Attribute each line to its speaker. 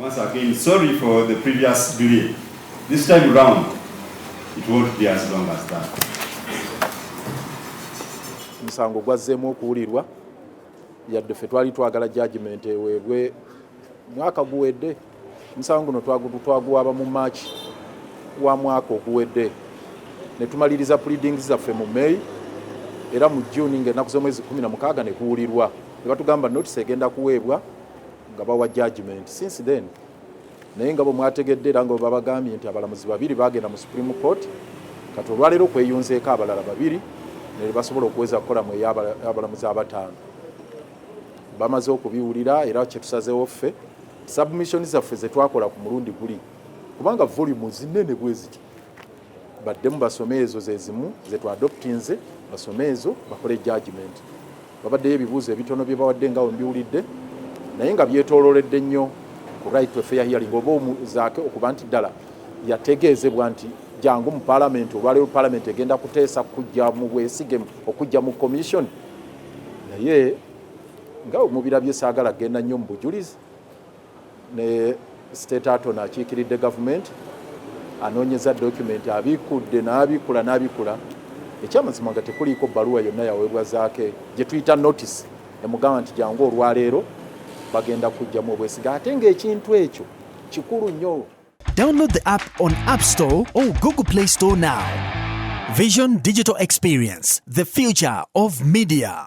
Speaker 1: Once again, sorry for the previous delay. This time round, it won't be as long as that.
Speaker 2: Musango gwazzemu okuwulirwa yadde ffe twali twagala judgment eweebwe mwaka guwedde omusango guno twaguwaaba mu maaki wa mwaka oguwedde ne tumaliriza pleadings zaffe mu may era mu june ng'ennaku z'omwezi 16 ne kuwulirwa ne batugamba notisi egenda kuweebwa nga bawa judgment since then naye nga bwe mwategedde era nga babagambye nti abalamuzi babiri bagenda mu supreme court kati olwaleero kweyunzeeko abalala babiri ne basobola okuweza kukola mu eyabalamuzi abataano bamaze okubiwulira era kyetusazewo ffe submission zaffe zetwakola ku mulundi guli kubanga volume zinene bweziti baddemu basome ezo zezimu zetu adoptinze basome ezo bakole judgment babaddeyo ebibuuzo ebitono bye bawadde nga wembiwulidde naye nga byetololedde nnyo ku right to fair hearing oba omuzaake okuba nti ddala yategeezebwa nti jangu mu palamenti olwaleero palamenti egenda kuteesa kujja mu bwesige okujja mu commission naye nga omubirabye saagala genda nnyo mu bujulizi ne state attorney akiikiridde gavumenti anoonyeza dokumenti abikkudde n'abikkula n'abikkula ekyamazima nga tekuliiko bbaluwa yonna yaweebwa zaake gye tuyita notisi emugamba nti jangu olwaleero bagenda kujjamu obwesiga ate ng'ekintu ekyo kikulu nnyo download the app
Speaker 3: on app store or google play store now vision digital experience the future of media